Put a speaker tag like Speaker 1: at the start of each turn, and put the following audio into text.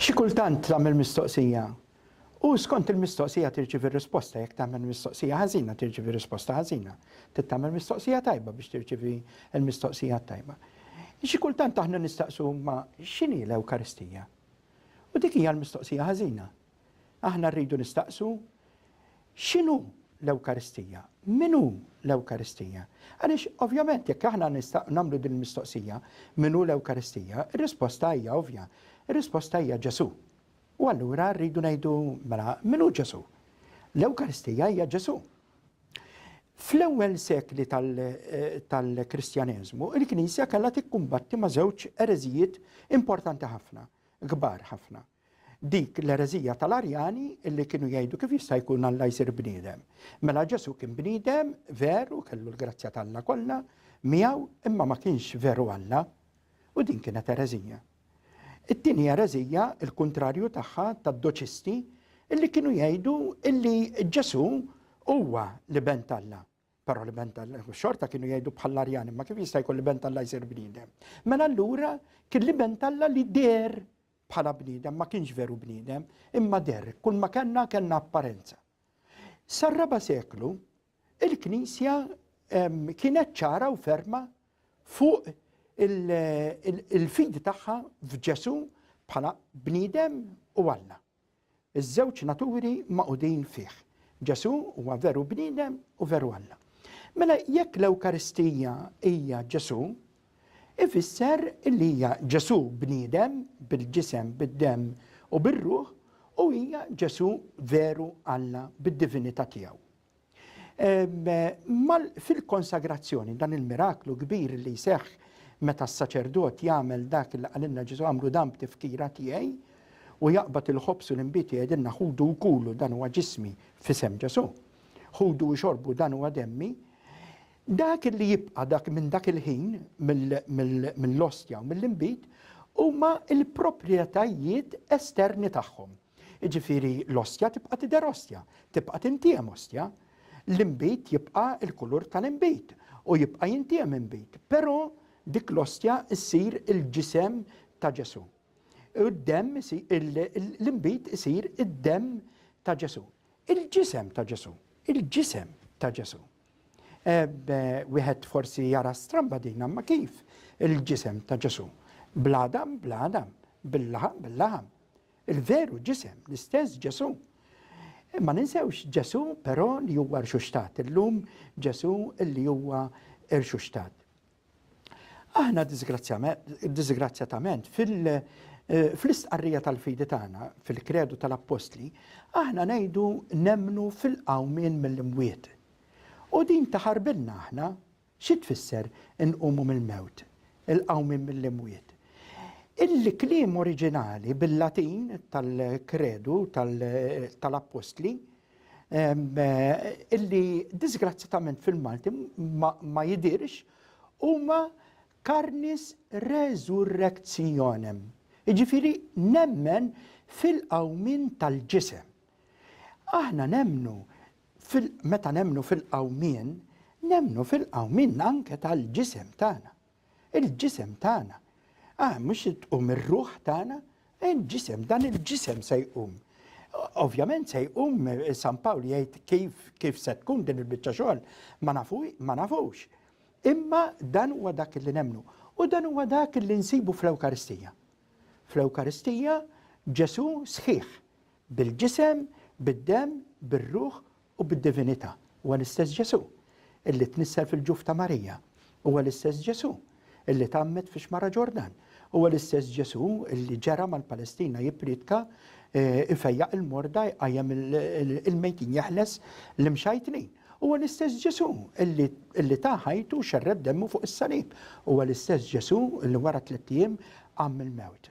Speaker 1: Xi kultant tagħmel mistoqsija u skont il-mistoqsija tirċievi risposta, jekk tagħmel mistoqsija ħażina tirċievi risposta ħażina. Trid tagħmel mistoqsija tajba biex tirċievi l-mistoqsija t-tajba. Xi kultant aħna nistaqsu ma x'inhi l-Ewkaristija? U dik hija l-mistoqsija ħażina. Aħna rridu nistaqsu x'inhu l-Ewkaristija? Min hu l-Ewkaristija? Għaliex ovvjament jekk aħna nagħmlu din il-mistoqsija min hu l-Ewkaristija, ir-risposta hija ovvja. Ir-risposta hija Ġesù. U allura rridu ngħidu mela min hu Ġesù? L-Ewkaristija hija Ġesù. Fl-ewwel sekli eh, tal-Kristjaneżmu, il-Knisja kellha tikkumbatti ma' żewġ ereżijiet importanti ħafna, kbar ħafna. Dik l-ereżija tal-Arjani li kienu jgħidu kif jista' jkun Alla jsir bniedem. Mela Ġesu kien bniedem veru kellu l-grazzja t'Alla kollha miegħu imma ma kienx veru Alla u din kienet ereżija. It-tieni ereżija il-kuntrarju tagħha tad-doċisti illi kienu jgħidu illi Ġesu huwa l-iben t'Alla. Però l-ben tal-Alla, xorta kienu jgħidu bħall-Arjani, ma kif jista' jkun l-ben tal-Alla jsir bniedem. Mela allura kien l-ben tal-Alla li der bħala bniedem, ma kienx veru bniedem, imma der, kull ma kellna kellna apparenza. Sar-raba seklu, il-Knisja kienet ċara u ferma fuq il-fidi tagħha f'Ġesu bħala bniedem u Alla. Iż-żewġ naturi magħqudin fih. Ġesù huwa veru bniedem u veru Alla. Mela jekk l-Ewkaristija hija Ġesù, ifisser li hija Ġesù bniedem, bil-ġisem, bid-demm u bir-ruħ, u hija Ġesù veru Alla bid-divinità tiegħu. Fil-konsagrazzjoni, dan il-miraklu kbir li jseħħ meta s-saċerdot jagħmel dak li qalilna Ġesu għamlu dan b'tifkira tiegħi u jaqbad il-ħobż u l-inbid jgħidilna ħudu u kulu dan huwa ġismi f'isem Ġesu. Ħudu u xorbu dan huwa demmi. Dak li jibqa' dak minn dak il-ħin mill-ostja u mill-inbid huma l-proprjetajiet esterni tagħhom. Jiġifieri l-ostja tibqa' tidher ostja, tibqa' tintiem ostja. L-inbid jibqa' l-kulur tal-inbid u jibqa' jintiem inbid, però dik l-ostja ssir il-ġisem ta' Ġesù. U d-demm l-inbid isir id-demm ta' Ġesù. Il-ġisem ta' Ġesù, il-ġisem ta' Ġesù. Wieħed forsi jara stramba din imma kif il-ġisem ta' Ġesù? Bl-għadam, bl-għadam, bil-laħam, bil-laħam. Il-veru ġisem, l-istess Ġesù. Ma ninsewx Ġesù però li huwa rxuxtat, illum Ġesù li huwa rxuxtat. Aħna disgrazzjatament eh, fl-istqarrija tal-fidi tagħna, fil-kredu tal-appostli, aħna ngħidu nemnu fil-qawmien mill-imwiet. U din taħarbilna aħna Xi tfisser inqumu mill-mewt, il-qawmien mill-imwiet? Il-kliem oriġinali bil-Latin tal-Kredu tal-Appostli, illi diżgrazzjatament fil-Malti ma jidhirx, huma carnis resurrectionem, jiġifieri nemmen fil-qawmien tal-ġisem. Aħna nemmnu Fil meta nemmnu fil-qawmien, nemmnu fil-qawmien anke tal-ġisem tagħna. Il-ġisem tagħna. Ah, mhux se tqum ir-ruħ tagħna, il-ġisem, dan il-ġisem se jqum. Ovvjament se jqum San Pawl jgħid kif kif se tkun din il-biċċa xogħol ma nafu ma nafux. Imma dan huwa dak li nemmnu u dan huwa dak li nsibu fl-Ewkaristija. Fl-Ewkaristija Ġesù sħiħ, Bil-ġisem, bid-demm, bir-ruħ u bid-divinità. Huwa l-istess Ġesù illi tnissel fil-ġuf ta' Marija. Huwa l-istess Ġesù illi tgħammed fix-Xmara Ġordan. Huwa l-istess Ġesù illi ġera mal-Palestina jippriedka, ifejjaq il-morda, jqajjem il-mejtin, jeħles l-imxajtnin. Huwa l-istess Ġesù illi ta ħajtu u xerred demmu fuq is-salib. Huwa l-istess Ġesù illi wara tlett ijiem qam mill-mewt.